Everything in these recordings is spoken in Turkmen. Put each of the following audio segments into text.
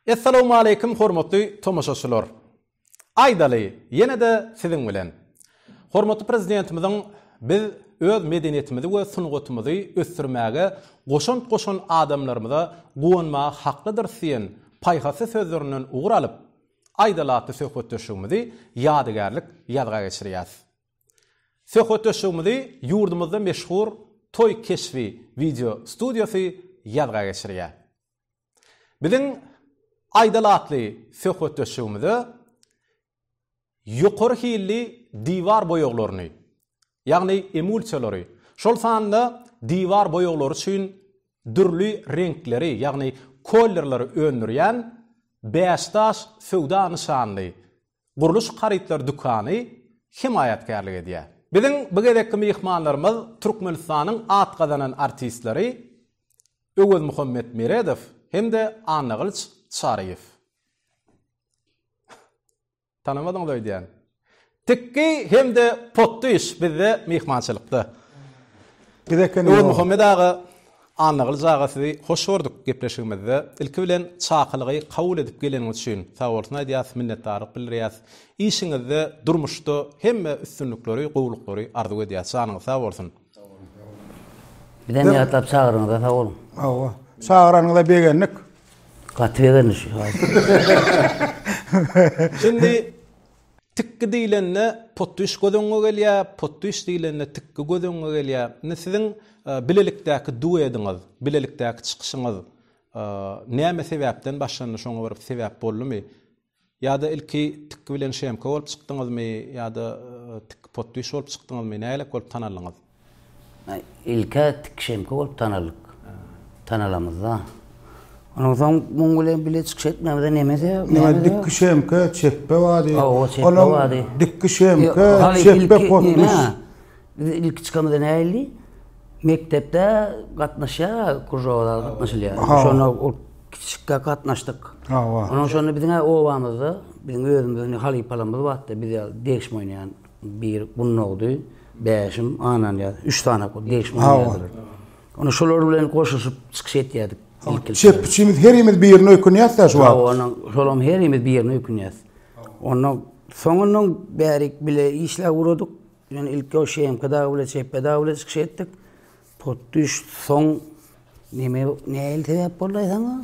Essalawmaleýkim hormatly tomaşaçylar. Aýdaly, ýene-de siziň bilen. Hormatly Prezidentimiziň Biz öz medeniýetimizi we sungatymyzy ösdürmäge goşant goşan adamlarymyza guwanmaga haklydyrys diýen paýhasly sözlerinden ugur alyp, Aýdal atly söhbetdeşligimizi ýadygärlik ýazga geçirýäs. Söhbetdeşligimizi ýurdumyzda meşhur Toý keşbi wideo studiýasy ýazga geçirýär. Biziň Aýdal atly söhbetdeşligimize ýokary hilli diwar boýaglaryny, ýagny emulsiýalary, şol sanda diwar boýaglary üçin dürli reňkleri, ýagny kollerleri öndürýän Bäşdaş söwda nyşanly gurluş harytlary dükany hemaýatkärlik edýär. Biziň bu gezekki myhmanlarymyz Türkmenistanyň at gazanan artistleri Öwezmuhammet Meredow hem-de Annagylyç Çaryýew. Tanamadyňyz öýdýän. Tikgi hem-de Potdyş bizde myhmançylykda. Öwezmuhammet aga Annagylyj aga sizi hoş gördük gepleşigimizde. Ilki bilen çakylygy kabul edip geleniňiz üçin sagbolsun aýdýas, minnetdarlyk bildirýäs. Işiňizde, durmuşda hemmä üstünlikleri, gowulyklary arzuw edýäs. Janyňyz sag bolsun. Bizem ýatlap çagyryňyza sag boluň. Hawa. Çagyranyňyza begendik. Gaty begendik. Şindi Tikgi diýlende potdyş göz öňüňe gelýär, potdyş diýlende tikgi göz öňüňe gelýär. Indi siziň bilelikdäki duediňiz, bilelikdäki çykyşyňyz näme sebäpden başlandy, şoňa bir sebäp boldumy? Ýa-da ilki tikgi bilen şemka bolup çykdyňyzmy, ýa-da tikgi potdyş bolup çykdyňyzmy, nägilek bolup tanaldyňyz? Ilk-ä Tikişemke bolup tanaldyk. Tanalamyzda. Onuň soň muň bilen bile çykyş etmämize nemese? Näme Dikişemke, Çepbe bady. Hawa, Çepbe bady. Dikişemke, Çepbe potnuş. Biz ilki çykamyzda näildi? Mekdepde gatnaşýar, kružoga gatnaşylýar. Şonda ol kiçijikkä gatnaşdyk. Hawa. Onuň şonda biziň-ä obamyzda, biziň özümiziň halypalarymyz batdy, biz ýaly degişme oýnaýan. Bir gunnogdy, bäşim, ananýaz, üç sany degişme oýnadýardylar. Onda şolar bilen goşuşyp çykyş etýärdik. Çep üçimiz herimiz birine ökünýäs-dä şu wagt. Hawa, şolam herimiz birine ökünýäs. Onda soňundan bärik bile işläp ugradyk. Ýöne ilki o ŞMK dagy bile, Çepbe dagy bile çykyş etdik. Potdüş soň neme näil sebäp boldy saňa?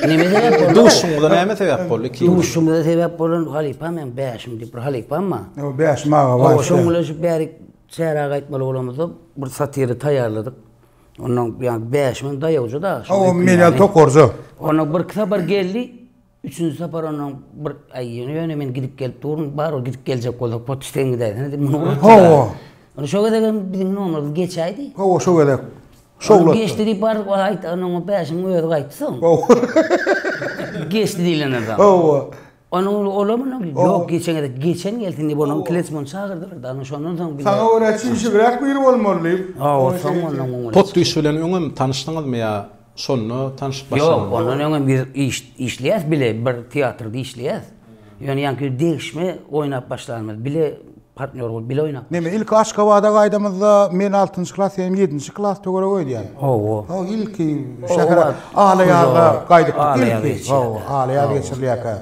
Neme sebäp boldy? Duşumda näme sebäp boldy iki? Duşumda sebäp bolan halypa men bäşim diýip bir halypamma. O bäş maga bar. O şoň bilen şu bärik çäre gaýtmaly bolamyzda bir satiri taýýarladyk. Ondan ýa bäşimiň daýawjy da. O men ýa tokarja. Ondan bir kitap bir geldi. Üçünji sapar onnoň bir, Aý, ýöne men gidip gelip durun, bar ol gidip geljek bolsa, pot sen gidäýsene diýip, muny unutdy. Hawa. Ony şo gezek hem biziň nomerimiz geçäýdi. Hawa, şo gezek. Şowlatdy. Ony geçdi diýip bar, wah, aýt, onuň o bäşiň özi gaýtdy soň. Hawa. Geçdi diýlenden soň. Hawa. Onuň olam onuň, ýok, geçen gezek, geçen gelsin diýip, onuň klesmony çagyrdylar da, onuň şondan soň bize. Saňa görä çişibräk biri bolmaly diýip. Hawa, soň onnoň. Pot iş bilen öňem tanyşdyňyzmy ýa? Şonda tanşyp başlamaly. Ýok, ondan öňem ýüz iş işleýäs bile bir teatrda işleýäs. Ýöne ýaňky degişme oýnap başlanymyz bile partnýor bolup bile oýnap. Neme ilki Aşgabada gaýdamyzda men altynjy klas senem ýedinji klas töweregi öýdýän. Hawa. Hawa ilki şähere Alaýazda gaýdypdyk ilki. Hawa Alaýaz geçirilýärkä.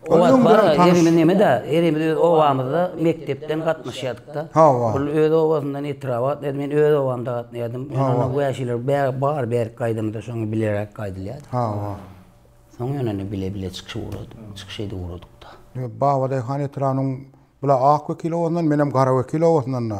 O wagt bar, herimiz neme-dä, herimiz öz obamyzda mekdepden gatnaşýardyk-da. Hawa. Ol öz obasyndan etraba gatnaýardy, men öz obamda gatnaýardym. Hawa. Ýöne wäşiler bäri bar, bärik gaýdymyzda şoňa bileräk gaýdylýardy. Hawa. Soň ýöne indi bile-bile çykyş ugradyk, çykyş edip ugradyk-da. Babadaýhan etrabynyň bula Ak wekil obasyndan, menem Gara wekil obasyndan-da.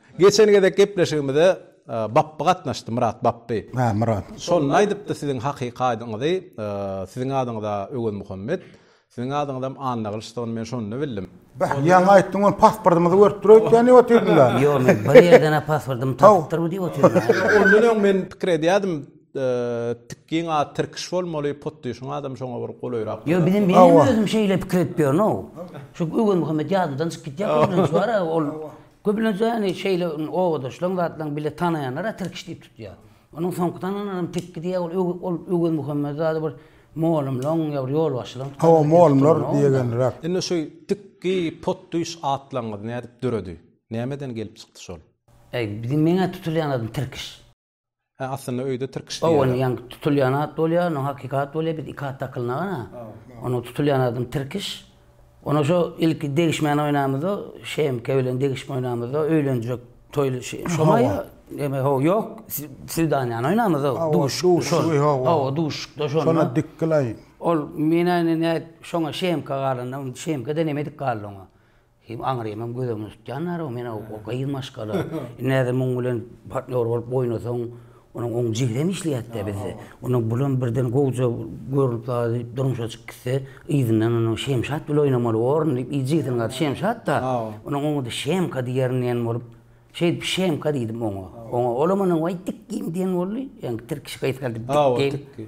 Geçen gezek gepleşigimize Bapby gatnaşdy, Myrat Bapby. Hä, Myrat. Şonda aýdypdy siziň hakyky adyňyzy, siziň adyňyz-a Öwezmuhammet, siziň adyňyzam Annagylyçdygyny men şonda bildim. Beh, ýaňy aýtdyň ony, pasportymyzy görüp dur öýtýän diýip otyrdylar. Ýok, men bir ýerden-ä pasportymy tapypdyr bu diýip otyrdym. Ondan öň men pikir edýärdim, Tikgiň ady tirkiş bolmaly, Potdyşyň adam şoňa bir golaýrak. Ýok, bizem, menem özüm şeýle pikir edip ýörün-ow. Şu Öwezmuhammet ýadymdan çykyp gitýär, köplenç bar-a ol. Köplenç-ä indi şeýle obadaşlaň, zatlaň bile tanaýanlar-a Tirkiş diýip tutýar. Onuň soňky tanananam Tekki diýýär, ol öw ol Öwezmuhammet zady bir molumlaň ýa bir ýolbaşçylaň tutandygy Hawa, diýip molumlar tutulýar onda. diýegendiräk. Indi şu Tikki, Potdüýş atlaryňyz nädip döredi? Nämeden gelip çykdy şol? Äý, biziň meň-ä tutulýan adym Tirkiş. Hä aslynda öýde tirkiş diýýärler. Owal ýaňy tutulýan at bolýar, ondan hakyky at bolýar, biz iki at dakylnaga-da. Onda tutulýan adam tirkiş. Onda şo ilki degişmän oýnamyzda, Şemke bilen degişip oýnamyzda öýlenjek toýly şe, şoma ýa, eme ho ýok, swidanýany oýnamyzda, duş, şo, hawa duşuşykda şonda. Şonda dik gylaý. Ol menä ine nä şoňa Şemke galanda, Şemke-de nemedik galdy oňa. Hem aňyrymam göz öňünde tutýanlar-ow, men-ow o gyz maşgala. Indi häzir muň bilen partnýor bolup oýnasaň, onuň oň jigdem işleýärdi-dä bizde. Onuň bulam birden gowja görnüp zady durmuşa çykyp gitse, yzyndan onuň Şemşat bilen oýnamaly borun diýip, yz jigdiniň ady Şemşat-da, onuň oňady Şemka diýerin diýen bolup, şeýdip Şemka diýdim oňa. Oňa olam onuň waý tikgim diýen boldy, ýaňky tirkişik aýtgardy, tikgim.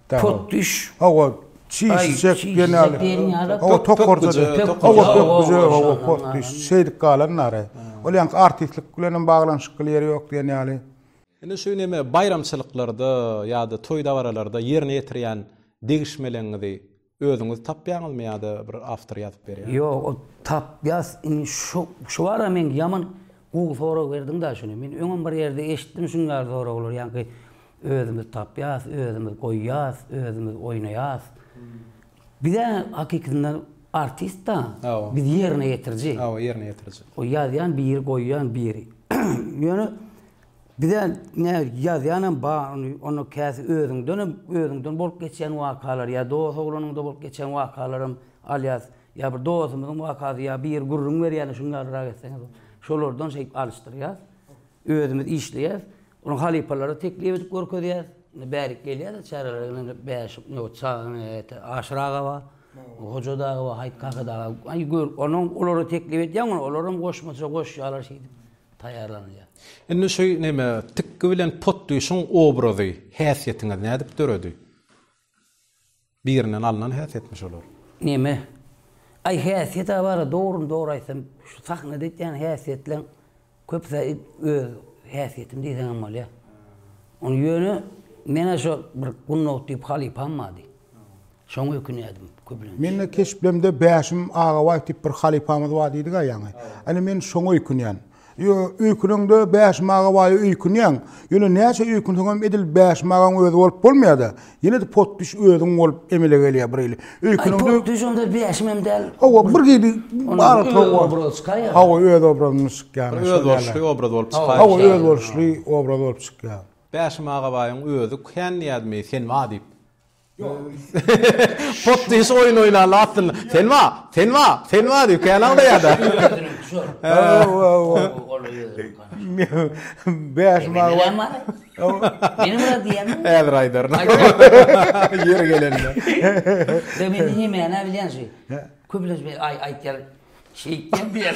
Pot düş. Hawa, çiş çek diýen ýaly. Hawa, tokarja. Hawa, tokarja, hawa, pot düş. Şeýdip galan nara. Ol ýaňky artistlik bilen hem baglanyşykly ýeri ýok diýen ýaly. Indi şu neme baýramçylyklarda ýa-da toý-dabaralarda ýerine ýetirýän degişmeleňňizi Özüňiz tapýaňyzmy ýa-da bir awtor ýazyp berýärmi? Ýok, ol tapýas indi şu şu bara men ýaman gowy sorag berdiň da şuny. Men öňem bir ýerde eşitdim şuň ýaly soraglary ýaňky özümiz tapýas, özümiz goýýas, özümiz oýnaýas. Bizä hakykatynda artist da, biz ýerine ýetiriji. Hawa ýerine ýetiriji. O ýazýan biri goýýan biri. Ýöne Bize nä ýazýanam ba onda käsi özüňdenem özüňden bolup geçýän wakalar ýa dos oglanyňda bolup geçýän wakalaram alýas ýa bir dosumyzyň wakasy ýa biri gürrüň berýäne şuny ýazrak etseňiz bolup şolardan şeýdip alyşdyrýas özümiz işleýäs ony halypalara teklip edip görkezýäs indi bärik gelýäler çärelere gelende bäş nobat çagany ete aşyr aga bar hoja dagy bar haýt kaka dagy aý gör onuň olara teklip edýäň ony olaram goşmaça goşýarlar şeýdip taýýarlanylýar. Indi şu neme tikgi bilen potdüşiň obrazy häsiýetiňiz nädip döredi? Birinden alnan häsiýetmi şolar? Neme? Aý häsiýet abara dogryny dogry aýtsam şu sahnada etýän häsiýetleň köpüsi öz häsiýetim diýseňem bolýar. Ony ýöne men-ä şo bir Gunnow diýip halypam bardy. Şoňa ökünýärdim köplenç. Mende keşplemde Bäşim Agabaýew diýip bir halypamyz bar diýdik-ä ýaňy. Ine men şoňa öýkünýän. Ýo, öýküneňde Bäşim Agabaýewe öýkünýäň. Ýöne näçe öýkünseňem edil Bäşim agaň özi bolup bolmaýar-da. Ýene-de potdüş özüň bolup emele gelýär bir hili. Öýküneňde. Aý, potdüş onda Bäşim hem däl. Hawa, bir hili aralyklary bar. Obrazy çykaýýar. Hawa, öz obrazymyz çykýar. Özboluşly obraz bolup çykaýýar. Hawa, özboluşly obraz bolup çykýar. Bäşim Agabaýyň özi kän diýýädimi sen ba diýip. Pot diýşi oýun oýnandy aslynda. Sen ba, sen ba, sen ba diýip kän aglaýarda. Bäşim Agabaý. Meni bir diýýämi? Häzir aýdaryn. Ýeri gelende. Men diňe mäna bilýän şu. Köplenç men aý aýtýan. Şeýtýän diýýän.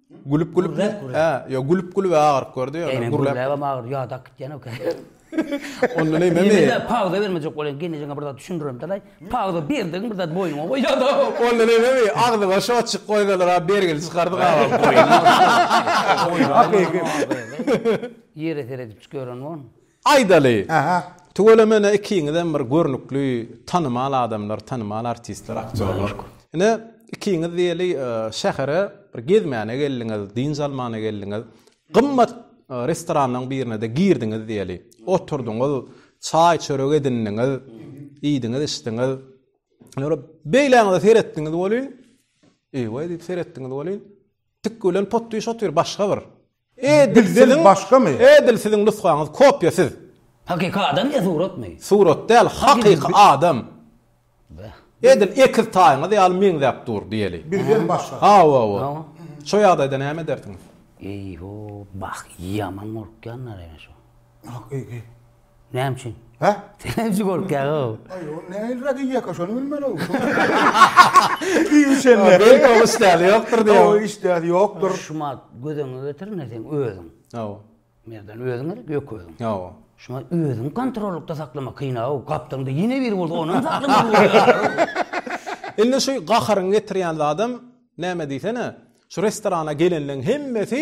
Gülüp gülüp ne? He, yo gülüp gülüp agyryp gördi yo. Gülüp gülüp agyrdy agyrdy yo dak gitýän ok. Onda ne men ne? Pagda bermejek bolýan gelnejeňe bir zat düşündirin dalaý. Pagda berdigiň bir zat boýnuňa goýýan. Onda ne men ne? Agzyma şo çyk goýsalar a bergili çykardy gabaň. Hakyky. Ýere seredip çyk ýören on. Aýdaly, tüweleme ine ikiňizem bir görnükli, tanymal adamlar, tanymal artistler, aktýorlar. Ine, ikiňiz diýeli şähere bir gezmäne geldiňiz, dynç almana geldiňiz. Gymmat restoranlaryň birine-de girdiňiz diýeli. Oturdyňyz, çaý-çörek edindiňiz, iýdiňiz-içdiňiz. Ýöne beýläňize seretdiňiz welin, eý-we diýip seretdiňiz welin, tikgi bilen potdyş otyr, başga bir. Edil siziň Edil siziň nusgaňyz kopýa siz. Hakyky adam ýa suratmy? Surat däl hakyky adam. Edil ekiz taýyňyz ýaly meňzäp dur diýeli. Bizden başga. Hawa hawa. Şo ýagdaýda näme edersiňiz? Eý ho bah ýaman gorkýanlar ene şo. Hakyky. Näme üçin? Hä? Sen näme üçin gorkýaň ow? Aý ol nähili radiýaka şony bilmeli ow. Diýip şende. Belki ol işdäli ýokdur diýýär. Ow işdäli ýokdur. Şumat göz öňüne getir indi sen özüň. Ow. Merdan özüň gerek ýok özüň. Ow. Şuňa özüňi kontrollykda saklamak kyn ow. Gapdaňda ýene biri bolsa onam saklamaly bolýar. Indi şu gaharyňy getirýän zadam näme diýsene? Şu restorana gelenleň hemmesi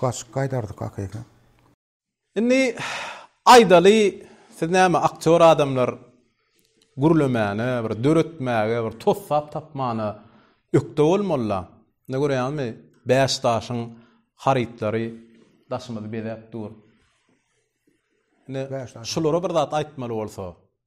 Gaçyp gaýdardyk hakyky. Indi aýdaly siz näme aktýor adamlar gürlemäne bir döretmäge bir tossap tapmana ökde bolmalyda indi görýäňizmi bäş daşyň harytlary daşymyzy bezäp dur indi şulara bir zat aýtmaly bolsa.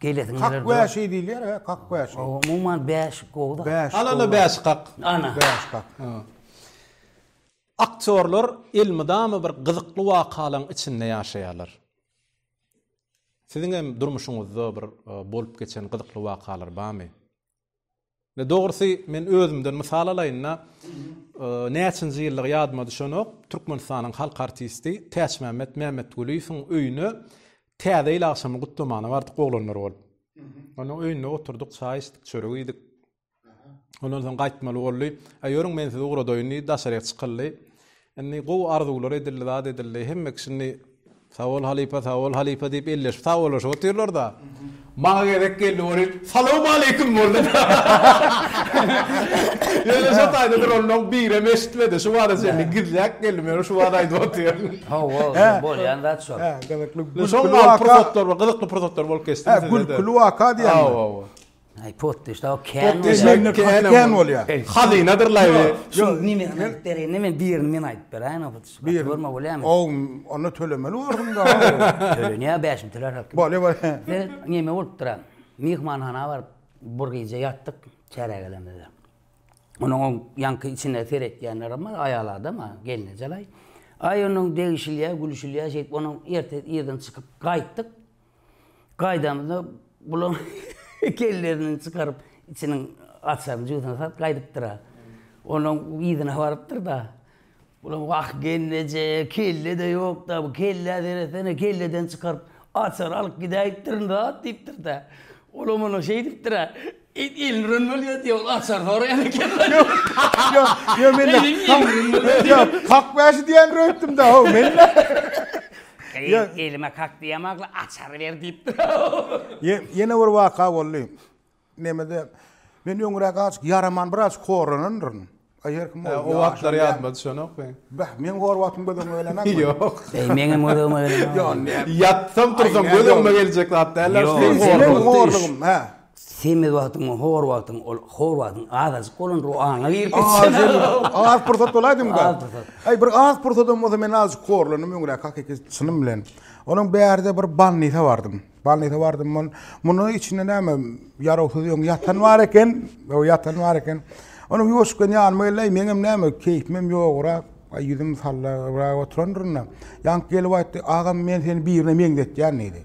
Gelesin geler. Kak bäşi diýilýär, hä? Kak bäşi. Umuman bäşik gowy-da. Bäşik. Alana bäşik kak. Ana. Bäşik kak. Aktýorlar elmydama bir gyzykly wakalaryň içinde ýaşaýarlar. Siziň hem durmuşyňyzda bir bolup geçen gyzykly wakalar barmy? Ine dogrusy men özümden mysal alaýynda näçinji ýyllygy ýadyma düşenok, Türkmenistanyň halk artisti Täçmämmet Mämmetgulyýewiň öýüne Täze ýyl agşamy gutlamagyna bardyk oglanlar bolup. Onuň öýünde oturdyk, çaý içdik, çörek iýdik. Ondan soň gaýtmaly boldy. Aý ýörüň men sizi ugradaýyn diýdi, daşaryga çykyldy. Indi gowy arzuwlar edildi zat edildi hemme kişi indi Sagbol halypa sagbol halypa diýip elleşip sagbolaşyp otyrlarda maňa gezek geldi welin salowmaleýkim boldy ýöne şo taýda duranlaň birem eşitmedi şu bada çenli gizläp geldim ýöne şu bada aýdyp otyryn. Hawa indi bolýan zat şol. Hä gyzykly gülküli waka. Şoňa pursatlar gyzykly pursatlar bolup geçdi. Hä gülküli waka diýýäňmi? Hawa hawa. Ay potdeş da o kän bolýar. Potdeş ne kän kän bolýar. Hazynadyr laýby. Şu nime aýdyp bereýin men birini men aýdyp beräýin o potdeş. Gaty görme bolýamy. O onda tölemeli bolsun da. Tölenýär bäş müň töler hakda. Bolýar bolýar. Biz nime bolupdyr. Myhmanhana baryp bir gije ýatdyk çärä gelenimizde. Onuň o ýanky içine seretýänlerem bar aýal adam a gelnejelaý. Aý onuň degişilýär gülüşilýär şeýdip onuň erte irden çykyp gaýtdyk. Gaýdamyzda bulam kellerinden çykaryp içiniň açaryny jübüsine salyp gaýdypdyra. Onuň yzyna barypdyrda. Bulam wah gelneje kelle-de ýokda bu kellä seretsene kelleden çykaryp açary alyp gidäýipdirin zat diýipdirda. Olam onuň şeýdipdira It ilňren bolýar diýip ol açar soraýan eken. Kak bäşi diýendir öýtdüm-dä how men-dä. Gyz elime kak diýemokly açary ber diýipdir how. Ýene bir waka boldy. Nemede men öňräk azajyk ýaraman biraz horanandyryn. Aý her kim bolsun. O wagtlar ýadyma düşenok men. Bäh, meň hor wagtym göz öňüme gelenokmy? Ýok. Eý, meňem göz öňüme gelen. Ýok, näme. Ýatsam, tursam göz öňüme geljek zat däldir. Ýok, seniň horlugyň, hä? Semiz wagtyň, hor wagtyň, ol hor wagtyň azajyk bolandyr, o aňa girip gitse. Az pursat bolaýdym da. Az pursat. Aý, bir az pursadym bolsa men azajyk horlandym öňräk hakyky çynym bilen. Onuň bärde bir bannise bardym. Balnise bardym men. Muny içinde näme ýarawsyz ýöň ýatan bar eken. O ýatan bar eken. Onuň ýoşkan ýanyma geldi. Meň hem näme keýpim hem ýograk. Ay ýüzüm sallagrak oturandyrynda. Ýank gelip aýtdy. Agam men seni birine meňzetýän diýdi.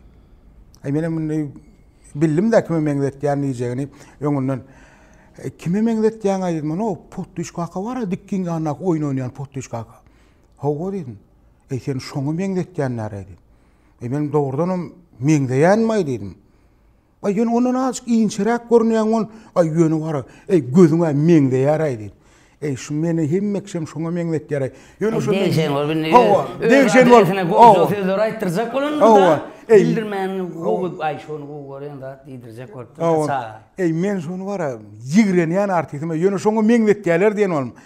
Ay men hem indi bildim de kime meňzetýän diýjegini öňünden. E, kime meňzetýän aýdyň muny? O potdyş kaka bar, dikkin ýandak oýun oýnaýan potdyş kaka. Hawa diýdim. Ey sen şoňa meňzetýän näre diýdi. E men dogrudanam meňzeýänmi diýdim. Aý ýöne ondan azajyk inçeräk görünýän ol. Aý ýöne bar. Eý gözüňe meňzeýär aý diýdi. Eý şu meni hemme kişem şoňa meňzetýär aý. Ýöne şu degşen bol bindi. Hawa, degşen bol. Hawa. Sözler aýtdyrjak bolan da. Bildirmän gowy aý şony gowy görýän zat diýdirjek bolupdyr. Hawa. Eý men şony bar. Ýigrenýän artistim. Ýöne şoňa meňzetýärler diýen ol.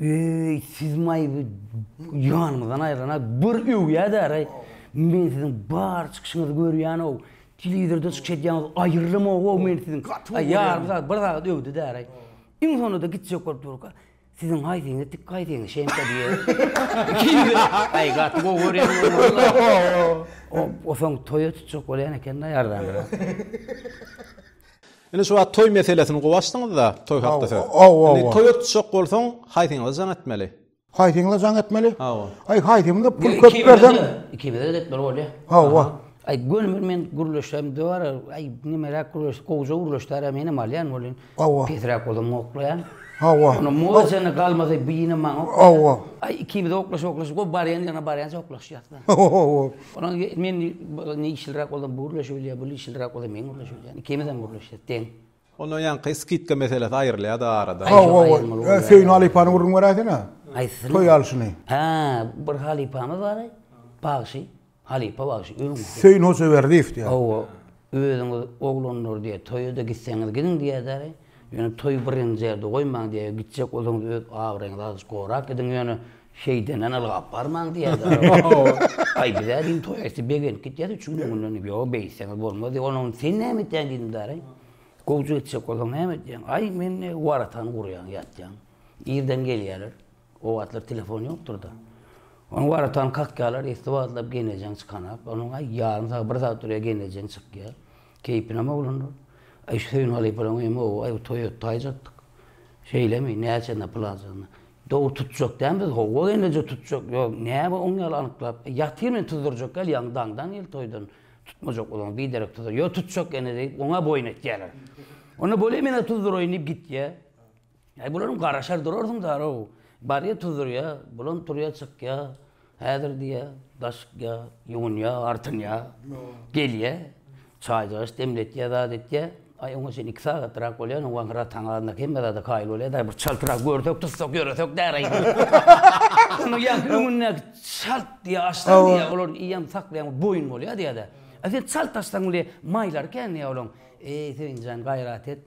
Eý, siz maýyby ýanymyzdan aýyrana bir öwýädäraý. Men siziň bar çykyşyňyzy görýän-ow. Telewizorda çykyş edýäňiz aýyrylymog-ow men siziň. Ýarym sagat, bir sagat öwdüdäraý. Iň sonunda gitjek bolup durka, Siziň haýsyňyz tik, haýsyňyz şemka diýýär. Aý, gaty gowy görýäňmi walla? O soň toýa tutjak bolýan eken-dä ýardan biraz. Indi şu wagt toý meselesini gowy açdyňyzda, toý hakda söz. Indi toýa tutjak bolsaň, haýsyňyza jaň etmeli? Haýsyňyza jaň etmeli? Hawa. Aý, haýsymyza pul köp berseň. Ikimize-de etmeli bolýa. Hawa. Aý, gönümel men gürleşsem döwär, aý, nemeräk gürleşse, gowja gürleşdär-ä, menem alýan welin, pesräk bolsa moklaýan. Hawa. Onda muzykany galmasa, bine maňa oklaýar. Hawa. Aý, ikimiz oklaşyp-oklaşyp, gowy barýan ýerine barýança oklaşýas. Hawa. Onuň men işliräk bolsam bu gürleşip bilýär, bu işliräk bolsa men gürleşip bilýän. Ikimizem gürleşýäs deň. Onda ýaňky skidka meselesi aýrylýar-da aradan. Hawa, Söýün halypany gürrüň beräýsene. Haýsysyny? Toý alşyny. Hä, bir halypamyz bar-aý, bagşy. Halypa bagşy. Söýün Hojaberdiýew diýýär. Hawa, özüňiz oglanlar diýýär, toýa-da gitseňiz gidiň diýýär-de-aý. Ýöne toýy birinji ýerde goýmaň diýýär, gitjek bolsaňyz öz abraýyňyzy azajyk gorap gidiň, ýöne şeýdenden ylgap barmaň diýýär däl. Aý biz-ä diýdim toýa ýetse begenip gitýäs üçünji günden diýdim, ýok beýtseňiz bolmaz diýip, onda onda sen näme etýäň diýdim däl-aý. Gowja gitjek bolsaň näme edýäň? Aý men ne waratany gurýan ýatýan. Irden gelýärler. O wagtlar telefon ýokdur-da. Onuň bar atan kakýalar esli wagtlap geýnäjeň çykanak. Onuň aý ýarym sagat, bir sagat durýar geýnäjeň çykýar. Keýpinem oglandyr. Aý şu Söýün halypalaň öýem oba, aý bu toý öt taýjakdyk. Şeýlemi, näçenä pul aljakna. Dowul tutjak dämi biz, howwa geýnäjeň tutjak. Ýok, näme oň ýaly anyklap. Ýatyr men tuzdurjak gel ýaňy daňdan gel toýdan. Tutmajak bolsaň biderek tuzdur. Ýok tutjak ene diýip oňa boýun etýärler. Onda bolýa men-ä tuzduraýyn diýip gitýär. Äý, bularam garaşar durarsyň dar-ow. Barýa tuzurýa, bulam turýa çykýa, häzir diýýä, daşykýa, ýuwunýa, artynýa, gelýä, çaýjagaç demletýä, zat etýä. Aý, oňa çenli iki sagatrak bolýar, oňa gara taň azynda hemme zada kaýyl bolýar-da, bir çaltrak görsek, tutsak, ýöresek däri aý. Onuň ýaňky öňündäki çalt diýýä, açsaň diýýä, olar iýen, saklaýan boýun bolýa diýýä-de. Aý, sen çalt açsaň, indi maýlary kän diýýä olaň. Eý, Söýünjan, gaýrat et.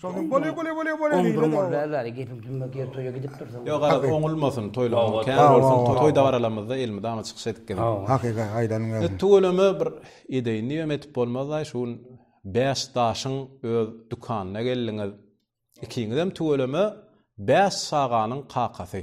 Şol gün bolýa bolýa bolýa bolýa diýildi. Oňdurym ol bäri bäri gepim tümmek ýer toýa gidip dursaň. Ýok garaz oňulmasyn toýlaryň kän bolsun toý dabaralamyzda elmydama çykyş edip gezek. Hakyky aýdanyň gelsin. Tüweleme bir edeýin diýibem edip bolmazdaý şu gün bäş daşyň öz dükanyna geldiňiz ikiňizem tüweleme bäş çaganyň kakasy.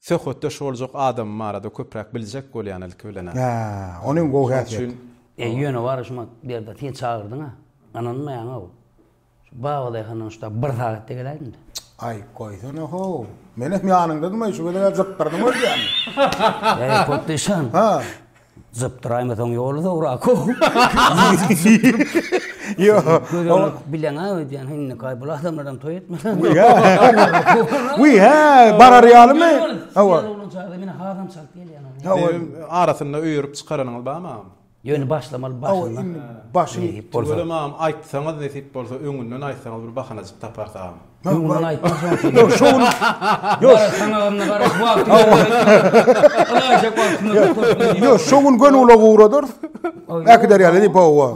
Söhbetdeş boljak adamym barada köpräk biljek bolýan ilki bilen-ä. Hä, ony hem gowy häsiýet. Eý, ýöne wara şuma Berdi, sen çagyrdyň-a. Ynanmaýaň-ow. Şu babadaýhandan şu tab bir sagatda geläýdim-dä. Aý, goýsana-how. Men hem ýanyňdadym-aý, şu gezeg-ä zykgyrdyň özgämi? Eý, potdyşan. Hä. Zypdyraýmasaň ýoly zowrak how. Bileňä öýdýän indikaý bul adamlaram toý etmeseň. Wiý hä barar ýalymy? Hawa. Men hazam çalyp gelýän. Hawa arasynda öýerip çykaranyňyz barmy agam? Ýöne başlamaly başyndan. Başy. Tüweleme agam aýtsaňyz nesip bolsa öňünden aýtsaňyz bir bahanajyk taparys agam. Men mundan aýtdym şoň üçin. Ýok, şu gün. Ýok, sanagyna garaş, wagty ýok. Alaýjak wagtymyz ýok. Ýok, şu gün göni ula guradyr. Äkider ýaly diýip owa.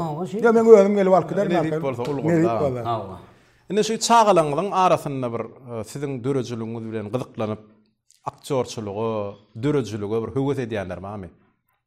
Ýa men özüm gelip alyp giderin. Ne diýip bolsa ul gurda. Hawa. Indi şu çagalaňyzyň arasynda bir e, siziň döredijiligiňiz bilen gyzyklanyp aktýorçylyga, döredijilige bir höwes edýänler barmy?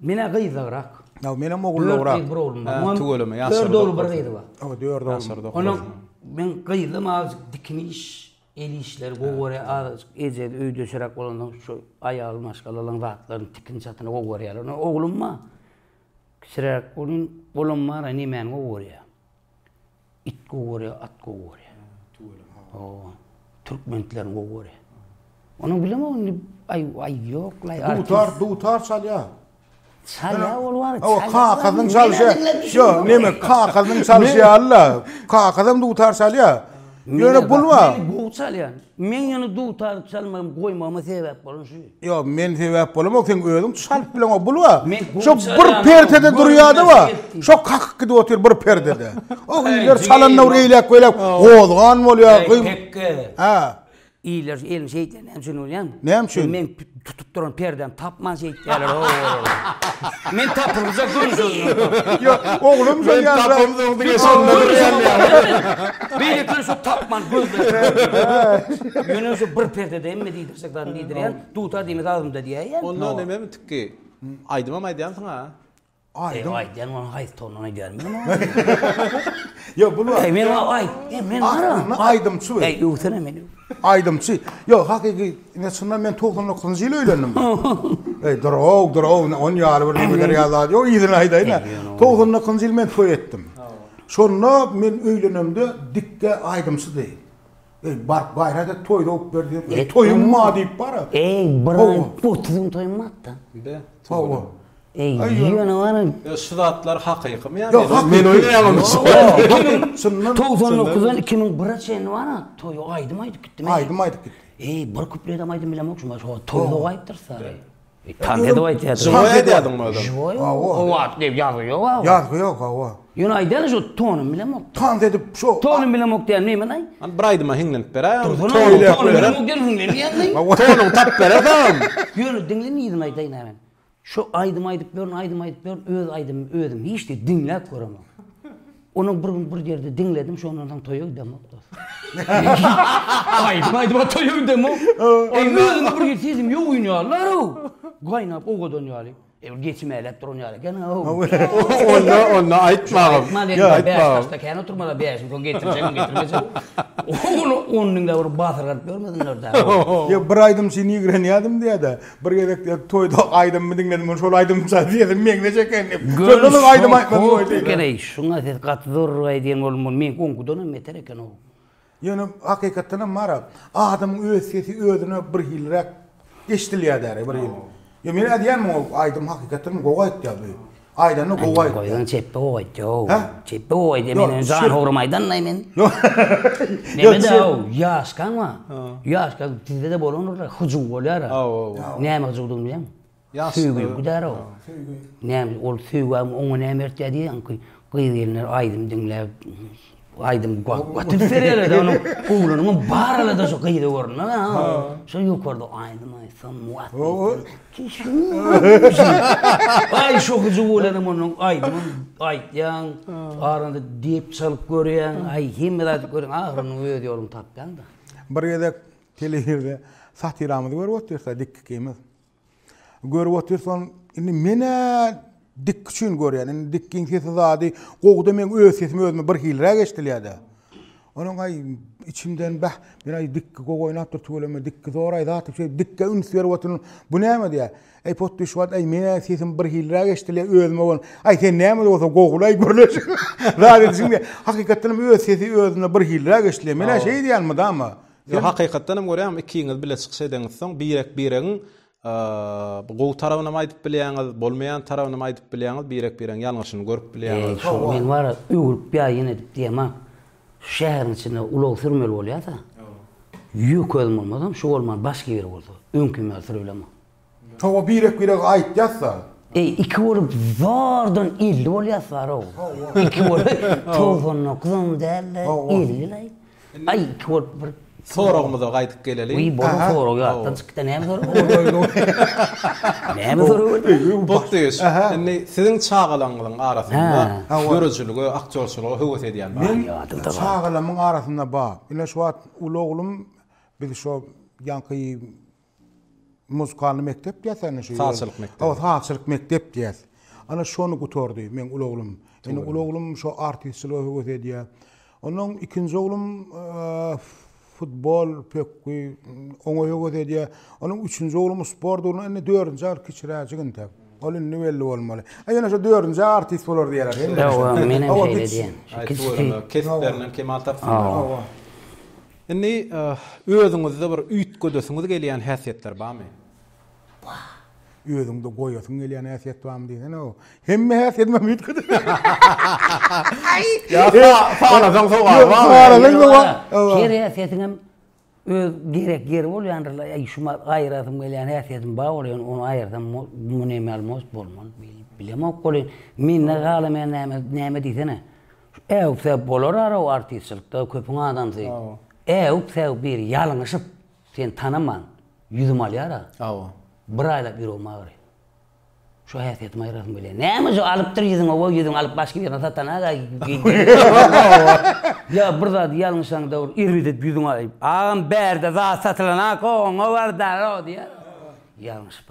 Men-ä gyzagrak. Ýa menem ogullagrak. Dört gyz, bir oglum bar. Muňam Tüweleme, ýaşaryk. Dört ogly, bir gyzy bar. Hawa, dört ogly. Ýaşaryk ogly. Onuň men gyzym azajyk dikin iş, el işleri gowy görýär. Azajyk eje öýdeşiräk bolanda şu aýaly maşgalalaryň zatlaryny, tikin-çatyny gowy görýär. Ony oglum bar. Kiçiräk onuň bolam bar-a, nemäni gowy görýär. It gowy görýä, at gowy görýä. Tüweleme ha. Hawa. Türkmentleriň gowy görýä. Onuň bilemok indi aý aý ýok laý. Dutar, dutar çalýa. Çalýa ol bar. O kakasynyň çalşy. Yo, neme kakasynyň çalşy ýaly-la. Kakasam dutar çalýa. Ýöne pul bar. Gowy çalýa. Meň ýöne dutar çalmagym goýmagyma sebäp bolan şu. Ýok, men sebäp bolamok, seň özüň çalyp bileň o bul-a. Şo bir perdede durýada-a, şo kakyk gidip otyr bir perdede. O ýer çalanda bir eýläk-beýläk gozgan bolýar. Hekge. Hä. Iýler elini şeýtýär, näme üçin bolýar? Näme üçin? Tutup duran perdäni tapman şeýtýärler o olar. Men tapylmjak gün şondan. Ýok, oglum şol ýaly. Men tapylmjak diýen şonda durýan. Beýlekini şo tapman gözleýär. Ýöne şo bir perdede hemme diýdirsek zat diýdirýän, dutar diýmesi agzymda diýýän. Onda nämemi tikgi? Aýdymam aýdýansyň-a? Aýdyň. Eý aýt, ýaňy haýsy townagyny aýdýaryn men oňa? Ýok, bu wagt. Eý, men oňa aýt, eý, men aýdym, aýdymçy. Eý, öwsene meni. Aýdymçy. Ýok, hakyky, ine çyndan men togsan dokuzynjy ýyl öýlendim. Eý, dur-ow, dur-ow, ony ýaly bir nebeder ýaly zat ýok, yzyny aýdaýyn-a. Togsan dokuzynjy ýyl men toý etdim. Şonda men öýlenemde dikge aýdymçydy. Eý baryp gaýrada toý dowup berseň eý toýuň bar diýip bara. Eý bir aý otuz gün toýuň batda. Be. Hawa. Eý ýöne bar. Şu zatlar hakykymy ýa men. Ýok men oýnaýammy şuny. Togsan dokuzdan iki müň bire çenli bara toýa aýdym aýdyp gitdim. Aýdym aýdyp gitdi. Eý bir kupledem aýdym bilemok şuny. Toýda gaýypdyr sary. Tank edip aýdýardy. Žiwoý aýdýardyňmy özem? Žiwoý. Hawa. Diýip ýazgy ýok a. Ýazgy ýok hawa. Ýöne aýdýardy şo tonym bilemok. Tank edip şo. Tonym bilemok diýen nemenaý? Hany bir aýdyma hiňlenip beräý. Tonym bilemok diýen hiňlenýäňmi? Tonym tapyp beräýsem. Ýöne diňle nirden aýdaýyn a men. Şo aýdym aýdyp ýörün, aýdym aýdyp ýörün, öz aýdymymy özüm hiç diýip diňläp göremok. Onuň bir gün bir ýerde diňledim, şondan soň toýa gidemok dos. Aýdym aýdyp toýa gidemok. Eý özüme bir ýer sezim ýogyn ýalylar-ow. Gaýnap owadan ýaly. Ebir geçi mäläp duran ýaly eken-ow. Onda onda aýtma agam. Aýtma indi bäş daşda kän oturma-la bäşiň soň getirjegin getirmejegin. Ony on diňläp batyr galyp ýörmesinler-dä. Ýok bir aýdym üçin ýigrenýärdim diýýä-de. Bir gezek diýip toýda aýdymmy diňledim men şol aýdym çal diýesim meňzeş eken diýip. Şondanam aýdym aýtmasym goýdy. Görüş gereý şuňa siz gaty zor aýdýan ol mul meňki ongudanam beter eken ow. Ýöne hakykatdanam bara adamyň öz sesi özüne bir hiliräk eşdilýär däri bir hili. Ýöne men aýdýaryn muňa aýdym hakykatdanam gowy aýtýar bu. Aýdanyny gowy aýt. Goýun çepbe gowy aýt. Ýok. Çepbe gowy aýt. Men öň jan howrym aýdanlaý men. Ýok. Ýaşkaň bar. Ýaşkaň sizde-de bolandyr-la. Hyjuw bolýar-a. Näme hyjuwdygyny bilýäň? Söýgi gidär-ow. Söýgi. Näme ol söýgä oňa näme bertýär diýýäňki? Gyz-gelinler aýdym diňläp. Aýdym gaty düşer ýerde onuň oglanyň bar alada şu gyzy görnä. Şu ýokarda aýdym aýtsam muwat. Aý şu gyzy bolanam onuň aýdym aýtýaň. Aranda diýip çalyp görýäň. Aý hemme zat görüň ahyryny öz ýoluny tapýaň-da. Bir gezek telewizde satyramyzy görüp otyrsa dik ikimiz. Görüp otyrsan, indi men-ä dik üçin görýän. Indi dikgiň sesi zady gowuda meň öz sesim özüme bir hiliräk eşidilýär-de. Onuň aý içimden bäh, men aý dikgi gowy oýnapdyr tüweleme, dikgi zor aý zat üçin dikge üns berip otyryn. Bu näme diýýär? Aý potdy şu wagt aý men-ä sesim bir hiliräk eşidilýär özüme bolan. Aý sen näme de bolsa gowulaý gürleşiň. Zat edişiň diýýär. Hakykatdanam öz sesi özüne bir hiliräk eşidilýär. Men-ä şeý diýýän mydama. Ýok, hakykatdan hem görýäňmi, ikiňiz bile çykyş edeňizsoň, birek-biregiň gowy tarabyny hem aýdyp bilýäňiz, bolmaýan tarabyny hem aýdyp bilýäňiz, birek-biregiň ýalňyşyny görüp bilýäňiz. Hawa. Men bar-a öwrüp ýa ýene edip diýemok. Şu şäheriň içinde ulag sürmeli bolýarsa, ýük özüm bolmasam, şu bolman başga biri bolsa, öňkümi ýaly sürebilemok. Toba birek birege aýytýasda. Eý iki bolup zordan elli bolýasdarow. Iki bolup togsan dokuzam dälde ellilaý. Aý iki bolup bir Soragymyza gaýdyp geleliň. Wiý bolan sorag ýatdan çykýa näme sorag berýär. Näme sorag berýär. Botdyş indi siziň çagalaňňyzyň arasynda döredijilige aktýorçylyga höwes edýän bar. Men çagalamyň arasynda bar. Ine şu wagt uly oglum biz şo ýaňky Muzykalny mekdep diýýäs ýa-da şu Sazçylyk mekdebi. Hawa, sazçylyk mekdep diýýäs. Ana şony gutardy meň uly oglum. Indi uly oglum şu artistçilige höwes edýär. Ondan ikinji oglum futbol, pökgi, oňa höwes edýär. Onuň üçünji oglum sport ugruna, indi dördünji agtyk kiçiräjik entek. Ol indi belli bolmaly. A ýene şu dördünji artist bolar diýýärler. Ýa-da menem şeýle diýen. Kesplerinden kemal tapsynlar. Indi özüňizde bir üýtgedesiňiz gelýän häsiýetler barmy? Bar. Özüňde goýasyň gelýän häsiýet barmy diýsene-ow. Hemme häsiýetimem üýtgeden. Ýa sanasaň sowal barmy? Sanasaň sowal. Her häsiýetiňem öz gerek ýeri bolýandyr-la. Äý, şuny aýyrasym gelýän häsiýetim bar bolýa, ýöne ony aýyrsam mundan emel bolmaz. Bilemok welin, mende galamyýa näme diýsene. Äw säw bolar araw artistçilikde köpüň adamsy äw säw biri ýalňyşyp seni tanaman ýüzümi alýar a aw bir aýlap ýüregim agyry şu häsiýetimi aýyrasym gelýär näme şu alypdyr ýüzüň owo ýüzüň alyp başga birine satan a ýa bir zady ýalňyşaň dowr irridip ýüzüň aýyp agam bärde zat satylan a koňa bar daraw diýär ýalňyşyp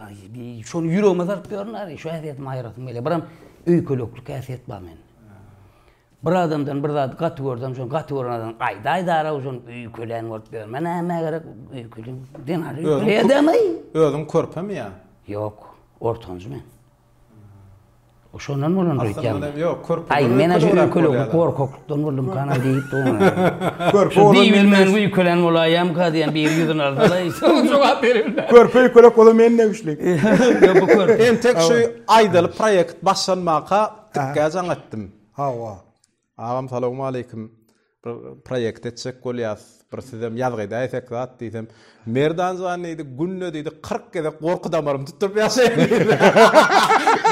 şony ýüregime salyp ýörün ary şu häsiýetimi aýyrasym gelýär biram öýkeleklik häsiýet bar mende. Bir adamdan bir zady gaty görsem, şony gaty gören adamdan aýdaýdara, şony öýkelän bolup ýörme, nämä gerek, öýkeleyim. Zenan öýkeleýär dämi? Özüň körpemi ýa? Ýok, ortanjy men. Şondan bolandyr öýtýän. Ýok, körpe. Aý, men aşa öýkelek, gorkaklykdan boldum kana diýip durun. Körpe bolan men. Diýip men öýkelän bolaýam ka diýen bir ýüzüni alsalar, soň jogap berilmez. Körpe öýkelek bolan men ne güçli. Ýok, bu körpe. Entek şu aýdaly proýekt başlanmaka Tikkä jaň etdim. Hawa. Agam salowmaleýkim. Bir proýekt etjek bolýas. Bir sizem ýazgy edäýsek zat diýsem, Merdan jan diýdi, günde diýdi 40 gezek gorky damarym tutup ýaşaýan diýdi.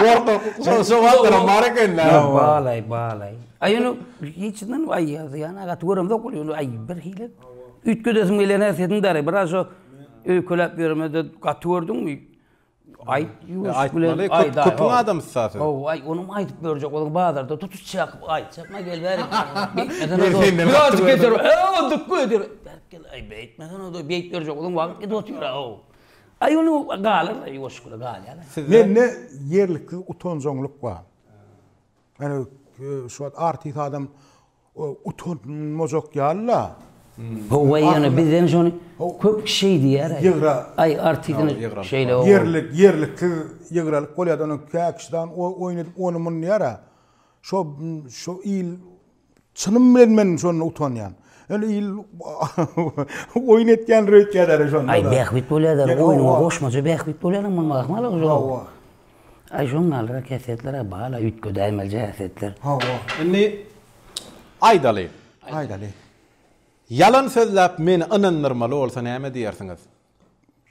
Gorky şo wagtlaram bar eken-dä. Balaý, balaý. Aý ýöne hiç ýerden aý ýazýan agaty göremzok weli ýöne aý birhili üýtgedesim gelýär närsesini däri biraz şo öýkeläp ýöremede gaty gördüňmi? Aýt, ýuwaşlyk bilen aýt. Köpüň adamysy zaten. Hawa, aý, onuň aýdyp berjek bolan bazarda tutuş çakyp aýtjak, maý gel bärik. Birazjyk geçer, hawa, dykma eder. Bärik gel, aý, beýtmesene, doý, beýt berjek bolan wagt gidip otyr, hawa. Aý, ony galar, aý, ýuwaşlyk bilen galýar. Mende ýerlikli utanjaňlyk bar. Ýöne şu wagt artist adam Utanmajak ýaly-la. Howwa ýöne bizden şony köp şeýdýär. Ýygra. Aý artizini şeýle o. Ýerlik ýerliksiz ýygralyk bolýar-da onuň käkişdan oýun edip ony muny diýýär-ä. Şo şo il çynym bilen men şonda utanýan. Ýöne il oýun etýändir öýtýärler şonda. Aý bähbit bolýar-da oýnuňa goşmaça bähbit bolýar-da munuň ahmalygy şo. Aý şoň galdyrak häsiýetler-ä bal-a üýtge däýmelije häsiýetler. Hawa. Indi aýdaly. Aýdaly. Ýalan sözläp meni ynandyrmaly bolsa näme diýersiňiz?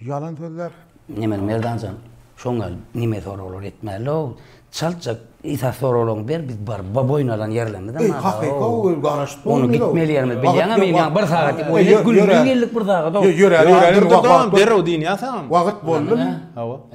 Ýalan sözläp? Nemeli Merdan jan? Şoň gal nime soraglar etmäli-ow. Çaltjak esas soraglaryňy ber biz baryp boýun alan ýerlerimiz hem bar-a-ow. Eý hakyka ol garaşyp durmyl-ow. Ony gitmeli ýerimiz bilýäňmi men ýa bir sagat diýip oýlap gülmeli geldik bir sagat-ow. Ýöräli ýöräli wagt. Dur-da derrew diýinýä saňam. Wagt boldumy? Hawa.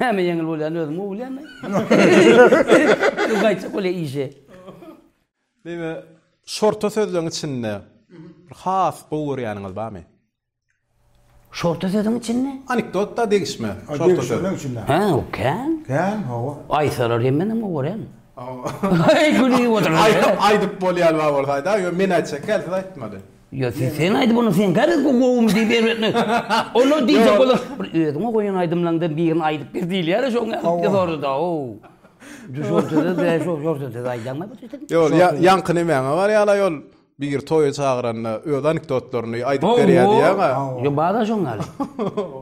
Näme ýeňil bolýany özüň gowy bilýäň-le. Ýöne gaýtjak bolýar işe. Meme, şorta sözleň içinde bir has gowy görýäniňiz barmy? Şorta sözüň içinde? Anekdotda degişme. Şorta söz. Degişmenin içinde. Hä, o kän. Kän, hawa. Aýtsalar hem menem gowy görýän. Aý, gülüp otur. Aýdyp bolýan bar bolsaýda, ýöne men aýtjak hälki aýtmaly. Ýa siz sen aýdyp onda sen garaz bu gowumy diýip erbetmek. Olar diýjek bolar bir özüňe goýan aýdymlaňdan birini aýdyp ber diýilýär şoň ýaly sordy da ow. Düşürtede de şo şortede aýdaňa bir ýetim. Ýol ýa ýaňky nemäňe barýala ýol biri toýa çagyranda öz anekdotlaryny aýdyp berýär diýýäňa. Ýa bada şoň ýaly.